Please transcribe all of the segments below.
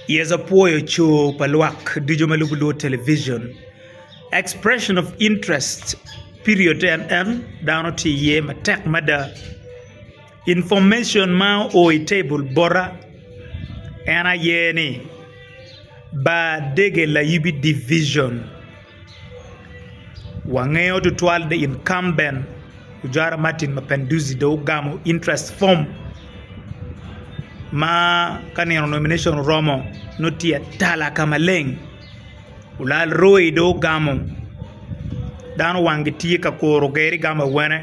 Yecu apwoyo coo pa lwak ducu ma lubo lwod television expression of interest period to en dano tye iye matek mada information ma o i table bota en aye ni Badege Layib Division. Wangeyo tutwal ni incumbent Ojara Martin Mapinduzi dong ogamo interest form ma ka nino nomination oromo nongo tye atala ka maleng olal roi dong ogamo dano wangi tye ka kuru geri gamo awene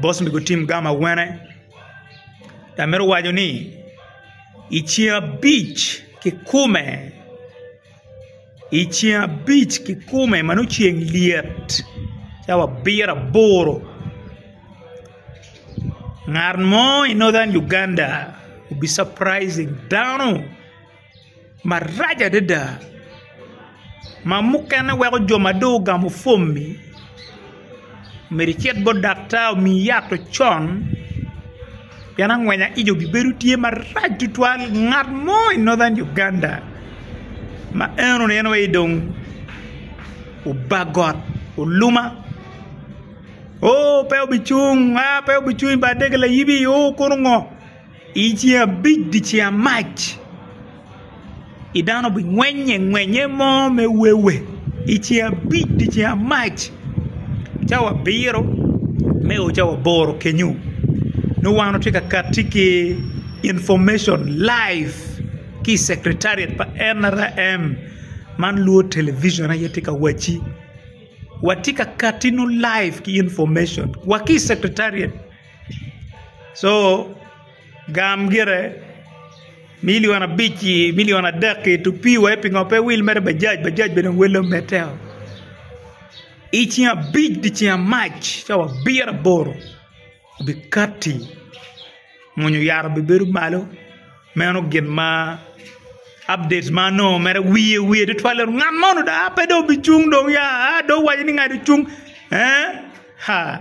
boss me gutim gamo awene amito waco ni i ceng abic kikume. I ceng abic kikome ma nongo ceng lyet ci abiro aboro ngat mo i northern Uganda obi surprising dano marac adada ma mukene weko jo ma dong ogamo pwomi. myero icit bot daktar omiyi yat ocon pien angwenya ic obibedo tye marac tutwal ngat mo i Northern Uganda ma eno ni en aye dong oba got oluma oo pe obicung aa pe obicung i bar dege layibi oo kono ngo. I ceng abic dyeceng amac i dano bingwennye ngwennye mo me wewe i ceng abic dyeceng amac cawa abiro me o cawa aboro kenyo nongo wan watye ka kati ki inpurmacon live ki i cektariat pa NRM man lwod television aye tye ka wacci watye ka katinu live ki inpurmacon wa ki i cektariat. co gam gire milion abic ki milion adek ki tupi wai pingo pe wil mere bajaj bajaj bene dong wele omedde o i ceng abic dye ceng amac cawa abiro aboro obi kati muni oyara obi bedo malo meno gin ma update ma anongo mere wiye wiye tutwale ngat mo dong ape dong obi cung dong ya a dong owaco ni ngat ocung eeh haa